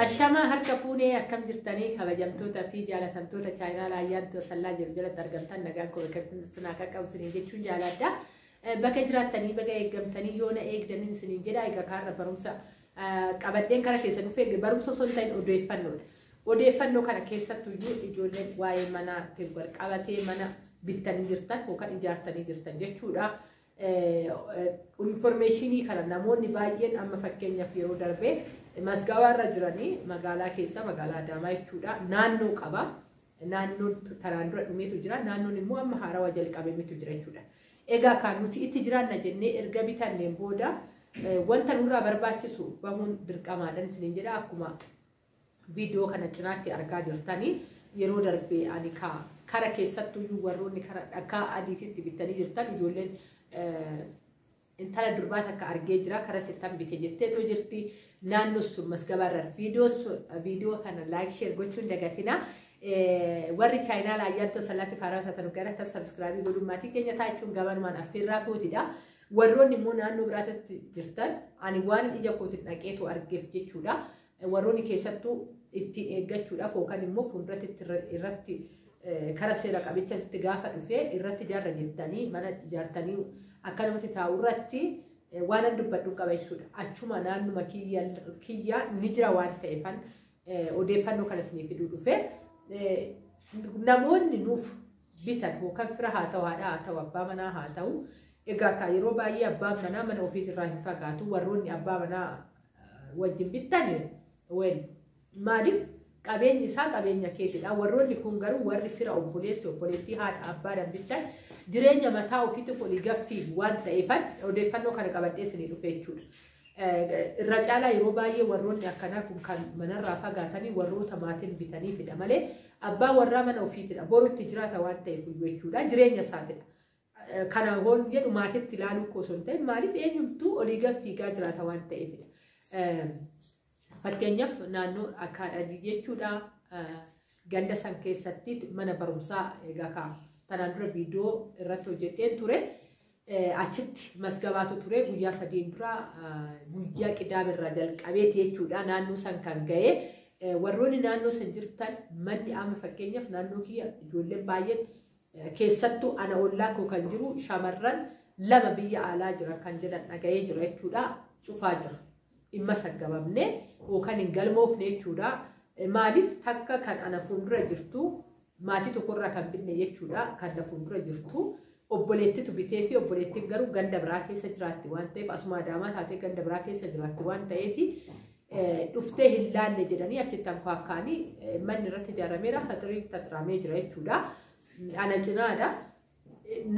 Ashamaa harka fuunee akkam jirtanii kabajamtoota fi jaalatamtoota chaayinaala ayyaantu sallaa jiru jalatti argamtan nagaan koo bakka jirtu naa qaqqabu isiniin jechuun jaaladha. Bakka jiraattanii baga eeggamtanii yoo na eegdanii isiniin jedha egaa kaarra barumsa qabadheen kara keessa dhufee barumsa osoo hin ta'in odeeffannoodha. Odeeffannoo kana keessattuu iyyuu ijoolleen waa'ee manaatiin wal qabatee mana bittanii jirtan yookaan ijaartanii jirtan jechuudha. Informeeshinii kana namoonni baay'een amma fakkeenyaaf yeroo darbee masgawaa irra jiranii magaalaa keessa magaalaa Adaamaa jechuudha naannoo qaba. Naannoo taraan dura dhumeetu jira. Naannoon immoo amma haarawaa jalqabemetu jira jechuudha. Egaa kan nuti itti jiraanna jennee erga bitanneen booda wanta nurraa barbaachisu bahuun dirqamaadhaan isiniin jedha akkuma Video kana cinaatti argaa jirtani yeroo darbe ani ka kara keessattuyyuu warroonni kara dhakaa adiititti bittanii jirtan ijoolleen intala durbaa takka argee jira kara sittan bite jetteetoo jirti naannoo sun masgabaa irra video sun video kana like share gochuun dagatina warri chaayinaa laayyaantoo salaatti faaraa taatan gara ta sabskraabii godhuun maatii keenya taachuun gabanumaan affeerraa kootidha. Warroonni immoo naannoo biraatti jirtan ani waan ija kootiin dhaqeetu argeef jechuudha. Warroonni keessattuu ittiin eeggachuudhaaf yookaan immoo fuulduratti itti irra- irratti eh, kara seera qabicha itti gaafa dhufee irratti ijaarra jettanii mana ijaartanii akkanumatti taa'u irratti eh, waan an dubbadhu qaba jechuudha. Achuma naannuma kiyya kiyyaa ni jira waan ta'eefan eh, odeeffannoo kana isinii fiduu dhufe. Eh, Namoonni nuuf bitan yookaan fira haa ta'u haadha haa ta'u abbaa manaa haa ta'u egaa kaa yeroo baay'ee abbaan manaa mana ofiitirraa hin fagaatu warroonni abbaa manaa wajjin bittan wel maaliif qabeenyi isaa qabeenya keetidha. Warroonni kun garuu warri fira obboleessi obboleettii haadha abbaadhaan bittan jireenya mataa ofiitu kun gaffii waan ta'eefan odeeffannoo kana qabadhee isinii dhufe jechuudha. Irra caalaa yeroo baay'ee warroonni akkanaa kun kan manarraa fagaatanii warroota maatiin bitaniifidha malee abbaa warraa mana ofiitidha. Borutti jiraata waan ta'eef jechuudha. Jireenya isaatidha. Kana hoon jedhu maatitti ilaaluu koo osoo hin ta'in maaliif eenyumtuu olii gad fiigaa jiraata waan ta'eefidha. Fakkeenyaaf naannoo akaadhadii jechuudha. Ganda san keessatti mana barumsaa egaa kaa tanaan dura viidiyoo irratti hojjeteen ture. Achitti masgabaatu ture guyyaa sadiin dura guyyaa qidaame irraa jalqabeeti jechuudha naannoo san kan ga'e. Warroonni naannoo san jirtan manni amma fakkeenyaaf naannoo kiyya ijoolleen baay'een Keessattuu ana ollaa koo kan jiru shamarran lama biyya alaa jiran kan jedhan dhaga'ee jira jechuudha. Cufaa jira. Dhimma saggabamne yookaan hin galmoofne jechuudha. Maaliif takka kan ana fuuldura jirtu maatii tokkorraa kan binne jechuudha. Kan na fuuldura jirtu obboleettitu bitee fi obboleettiin garuu ganda biraa keessa jiraatti waan ta'eef asuma adaamaa taatee ganda biraa keessa jiraatti waan ta'eef dhuftee hin laalle jedhanii achitti ankaakkaanii manni irratti ijaarameera haxiriin xaxiraamee jira jechuudha. Ala cinaadha.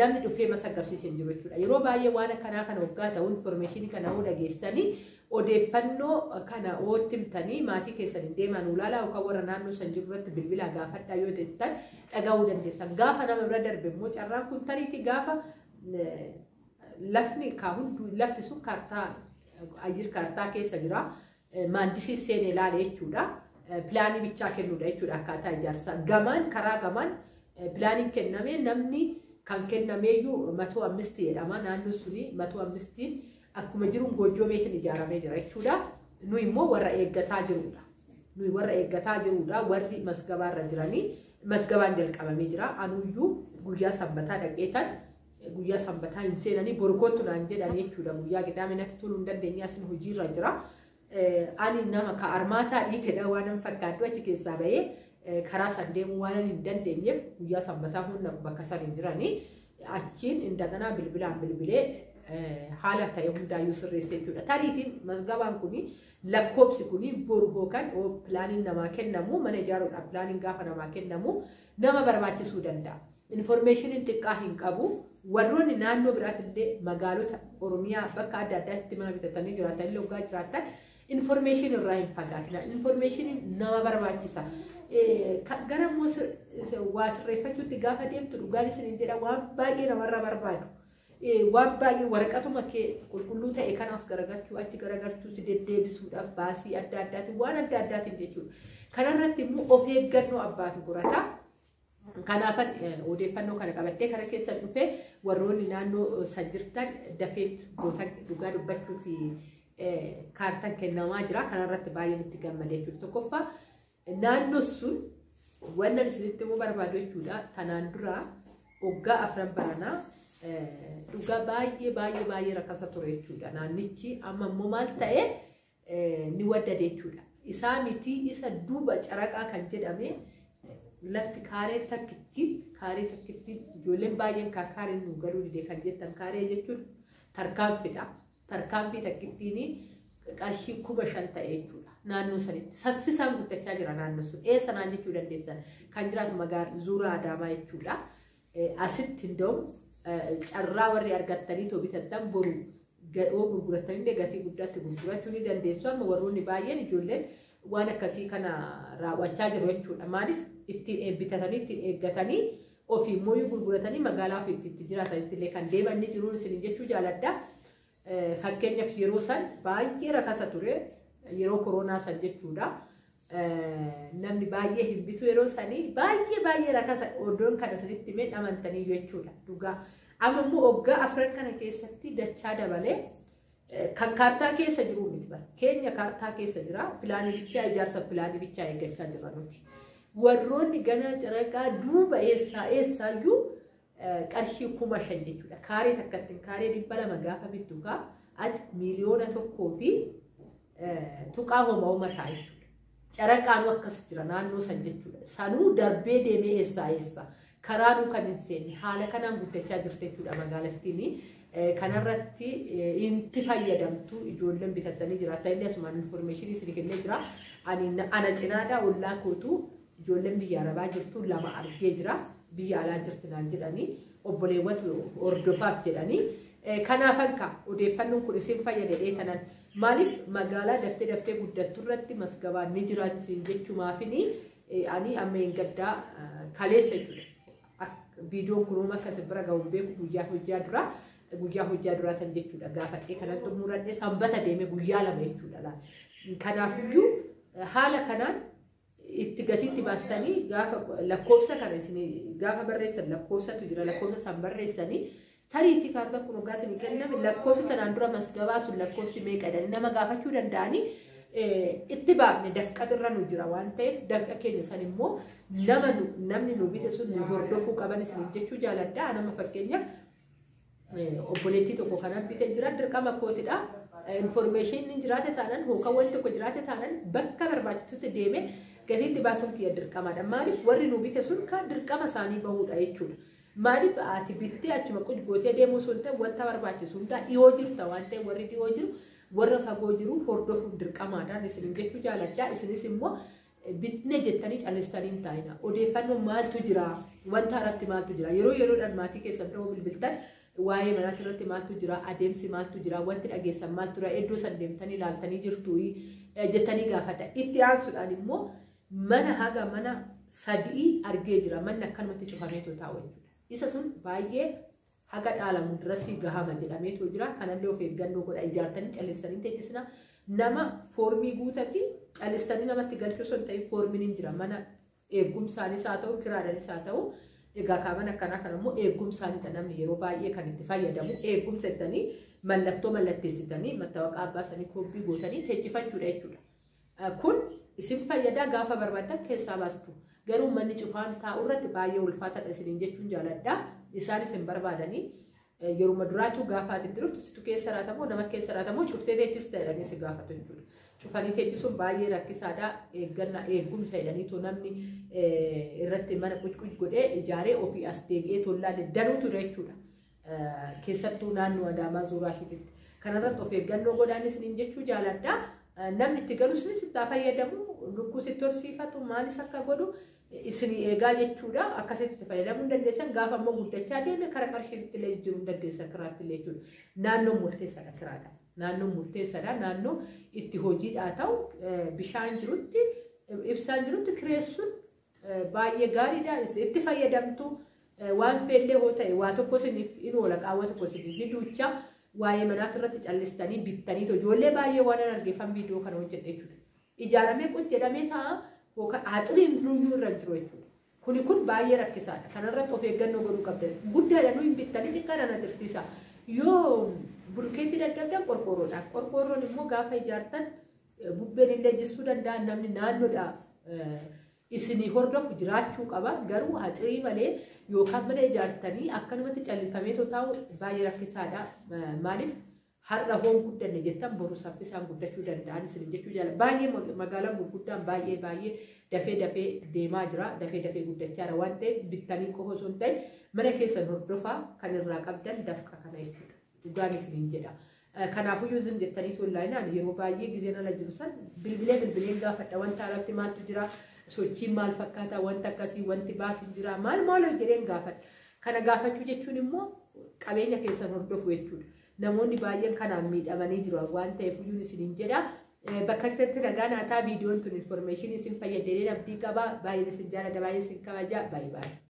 Namni dhufee masa agarsiise hin jiru jechuudha. Yeroo baay'ee waan akkanaa kana waggaa ta'u infoormeeshinii kana hoo dhageessanii odeeffannoo kana hoo timtanii maatii keessan hin deemaan ulaalaa yookaan warra naannoo san jiru irratti bilbilaa gaafadhaa yoo jettan dhaga'uu dandeessan. Gaafa nama bira darbe immoo carraan kun tariitii gaafa Lafni kaa hunduu lafti sun kaartaa ayyir kaartaa keessa jira. Maandisii seenee ilaale jechuudha. Pilaanii bichaa kennuudha jechuudha akkaataa ijaarsaa. Gamaan karaa gamaan pilaaniin kennamee namni kan kennameeyyuu matuu ammistii jedhama. Naannoon suni matuu ammistiin akkuma jiruun goojjoo meetiin ijaaramee jira jechuudha. Nu immoo warra eeggataa jirudha. Nuyi warra eeggataa jirudha. Warri masgabaarra jiranii masgabaan jalqabamee jira. Anuyyuu guyyaa sanbataa dhaqeetan Guyyaa sanbataa hin seenanii boru kottu naan jedhan jechuudha. Guyyaa qidaamee natti toluu hin dandeenye asin hojiirra jira. Ani nama ka armaataa dhiitedha waan hin fakkaadhu achi keessaa bahee karaa san deemuu waan hin dandeenyeef guyyaa sanbataa hunda bakka san hin jiranii achiin indaganaa bilbilaan bilbilee haala ta'e hundaayyuu sirreessa jechuudha. Tariitiin mazgabaan kun lakkoobsi kun boru hookan pilaaniin namaa kennamu mana ijaaruudhaaf pilaaniin gaafa namaa kennamu nama barbaachisuu danda'a. Informeeshiniin xiqqaa hin qabu. Warroonni naannoo biraatillee magaalota Oromiyaa bakka adda addaatti mana bitatanii jiraatan illee hoggaa jiraatan informeeshinii irraa hin fagaatina. Informeeshiniin nama barbaachisa. Eh, ka- Gara immoo sir- is- waa sirreeffachuutti gaafa deemtu dhugaan isin hin jedha waan baay'ee namarra barbaadu. Waan baay'ee waraqatuma kee qulqulluu ta'e kanaaf garagalchuu achi garagalchuu si deddeebisuudhaaf baasii adda addaatiin waan adda addaatiin jechuudha. Kanarratti immoo of eeggannoo abbaatu gorata. Kanaafan odeeffannoo kana qabadhee kara keessan dhufee warroonni naannoo san jirtan dafeet goota dhugaa dubbachuuf kaartan kennamaa jira. Kanarratti baay'een itti gammade jechuudha. Tokkoffaa Naannoon sun wanna isinitti immoo barbaadu jechuudha. Tanaan dura waggaa afran baranaa dhugaa baay'ee baay'ee baay'ee rakkasa ture jechuudha. Naannichi amma immoo maal ta'e ni waddade jechuudha. Isaa miti isa duuba caraqaa kan jedhame lafti kaaree takkitti kaaree takkitti ijoolleen baay'een kaa kaaree nu galuu dide kan jettan kaaree jechuun tarkaanfidha. Tarkaanfii takkittiin qarshii kuma shan ta'e jechuudha. Naannoo sanitti saffisaan guddachaa jira naannoo sun. Ee sanaan jechuu dandeessan kan jiraatu magaalaa Zuuraa Adaamaa jechuudha. Asitti hunda'u carraa warri argattanii too bitattan boru yoo gurgurattanillee gatii guddaatti gurgurachuu ni dandeessu. Amma warroonni baay'een ijoolleen waan akkasii kana raawwachaa jiru jechuudha. Maaliif ittiin bitatanii ittiin eeggatanii ofii immoo yoo gurguratanii magaalaa ofii itti itti jiraatanitti illee kan deeman ni jiruun isin jechuu jaaladha. Eh, Fakkeenyaaf yeroo san baay'ee rakasa ture yeroo koronaa san jechuudha. Eh, Namni baay'ee hin bitu yeroo sanii baay'ee baay'ee rakasa odoon kana isinitti himee dhamantanii jechuudha dhugaa. Amma immoo waggaa afran kana keessatti dachaa dabalee Kan kaartaa keessa jiru miti bara. Keenya kaartaa keessa jira. Pilaanii bichaa ijaarsa pilaanii bichaa eeggachaa jirra nuti. Warroonni ganaa caraqaa duuba eessaa eessaayyuu qarshii kuma shan jechuudha. Kaaree takkatti kaaree dhibba lama gaafa bittu kaa ati miiliyoona tokkoo fi tuqaa homa homa ta'a jechuudha. Caraqaanuu akkas jira naannoo san jechuudha. Sanuu darbee deemee eessaa eessa karaanuu kan hin seenne haala kanaan guddachaa jirti jechuudha magaalattiin. Eh, Kanarratti eh, inti fayyadamtu ijoolleen bitattanii jiraata. Inni asumaan infoormeeshinii isin kennee jira. Ani na- ana cinaadhaa ollaa kootu ijoolleen biyya arabaa jirtu lama argee jira. Biyya alaa jirti naan jedhanii obboleewwatu hordofaaf jedhanii. Eh, Kanaafan ka odeeffannoon kun isin fayyadadhee tanan Maalif magaalaa daftee daftee guddattu irratti masgabaan ni jiraatu siin jechuu maafini ani amma hin gaddaa kaleessa jechuudha. Viidiyoon kun uuma akka isin bira gahu hin beeku guyyaa hojjaa duraa guyyaa hojjaa duraa tan jechuudha gaafadhee kanan xumuradhee sanbata deeme guyyaa lama jechuudha. Kanaafiyyuu haala kanaan itti gatii itti baastanii gaafa lakkoofsa kana isin gaafa barreessan lakkoofsatu jira lakkoofsa san barreessanii tariitii kaartaa kun hoggaa isin kenname lakkoofsi tanaan dura masgabaa sun lakkoofsi meeqadhan nama gaafachuu danda'anii itti baafne dafqa irra nu jira waan ta'eef dafqa keenya san immoo nama namni nu bite sun nu hordofuu qaban isin jechuu jaaladha nama fakkeenyaaf obboleettii tokko kan argite jira dirqama kootidha. Infoormeeshiniin jiraate taanaan hookan wanti tokko jiraate taanaan bakka barbaachisutti deemee gatiitti baasuun kiyya dirqamaadha. Maaliif warri nu bite sun kan dirqama isaanii bahuudha jechuudha. Maaliif ati bittee achuma quj gootee deemuu sun ta'e wanta barbaachisu hundaa dhiyoo jirta waan ta'e warri dhiyoo jiru warra fagoo jiru hordofuun dirqamaadhaan isin jechuu jaaladha. Isinis immoo bitne jettanii callistanii hin taa'ina. Odeeffannoo maaltu jira? Wanta irratti maaltu jira? Yeroo yeroodhaan maatii keessan dhahuu bilbiltan waa'ee manaatii irratti maaltu jira? Adeemsi maaltu jira? Wanti dhageessan maaltu jira? Iddoo san deemtanii ilaaltanii jirtu jettanii gaafata. Itti aansuudhaan immoo mana haga mana sadii argee jira. Manni akkanumatti cufamee taa'u jechuudha. Isa sun baay'ee haga dhaalamu dirasii gahama jedhameetoo jira kanallee of eeggannoo godha ijaartanii callistanii teechisina nama foormii guutati callistanii namatti galchuu osoo hin ta'in foormiin hin jira mana eegumsaanis haa ta'u kiraadhanis haa ta'u egaa kaaman akkanaa kan ammoo eegumsaanidha namni yeroo baay'ee kan itti fayyadamu eegumsa jettanii mallattoo mallatteessitanii mattawaqaa abbaa sanii koppii gootanii teechifachuudha jechuudha. Kun isin fayyadaa gaafa barbaadan keessaa baastu. Garuu manni cufaan taa'u irratti baay'ee ulfaataadha isiniin jechuun jaaladha. Isaanis hin barbaadanii. Yeruma duraatuu gaafa ati itti dhuftu situ keessa raatamoo nama keessa raatamoo cuftee teechis ta'edhanii si gaafatu jechuudha. Cufanii teechisuun baay'ee rakkisaadha. Eeggannaa eegumsa jedhaniitu namni irratti mana qucquc godhee ijaaree ofii as deebi'ee tollaalee danuutu jechuudha. keessattuu naannoo Adaamaa Zuuraa Shiititti. Kanarratti of eeggannoo godhaan isiniin jechuu jaaladha. Namni itti galu isinis itti haa fayyadamu, lukkuu sitti horsiifatu, maalis akka godhu isin eegaa jechuudha. Akkasitti itti fayyadamuu hin dandeessan. Gaafa immoo guddachaa deeme kara qarshiitti illee jijjiiruu hin dandeessan kiraatti illee jechuudha. Naannoon murteessaadha kiraadha. Naannoon murteessaadha. Naannoo itti hojiidhaa ta'u bishaan jirutti ibsaan jirutti kireessuun Baay'ee gaariidha itti fayyadamtu waan feellee hoo ta'e waa tokko isiniif in oola qaawwa tokko isiniif ni duucha waa'ee manaatti irratti callistanii bittanii ijoollee baay'ee waan an argeeffan viidiyoo kana hojjedhe jechuudha. Ijaaramee qut jedhamee ta'a yookaan aaxiriin luyyuu irra hin jiru jechuudha. Kuni kun baay'ee rakkisaadha. Kanarratti of eeggannoo godhuu qabdan. Guddaadha nuyi hin bittanii xiqqaadhaan agarsiisa. Yoo bulkeetii dadhabdan qorqoorroodhaan. Qorqoorroon immoo gaafa ijaartan Bubbeen illee jissuu danda'a namni naannoodhaaf isinii hordofu jiraachuu qaba garuu haxirii malee yookaan mana ijaartanii akkanumatti callifamee taa'u baay'ee rakkisaadha maaliif har'a hoon guddanne jettan boru saffisaan guddachuu danda'an isin jechuu jaala baay'ee magaalaan gurguddaan baay'ee baay'ee dafee dafee deemaa jira dafee dafee guddachaa jira waan ta'eef bittanii qofa osoo hin ta'in mana keessan hordofaa kan irraa qabdan dafqa kana jechuudha. Dhugaan isiniin jedha. Kanaafuyyuu zim jettanii tuullaayinaan yeroo baay'ee gizeen ala jiru san bilbilee bilbileen gaafadha wanta alatti maaltu jira sochiin maal fakkaata wanta akkasii wanti baas hin jira maal maal jedheen gaafadha. Kana gaafachuu jechuun immoo qabeenya keessan hordofu jechuudha. Namoonni baay'een kanaan miidhamanii jiru waan ta'eef iyyuu isiniin jedha. Bakka keessatti nagaa naataa viidiyoon tun infoormeeshinii isin fayyadee abdii qaba. Baay'een isin jaalladha baay'een isin kabaja. Baay'ee baay'ee.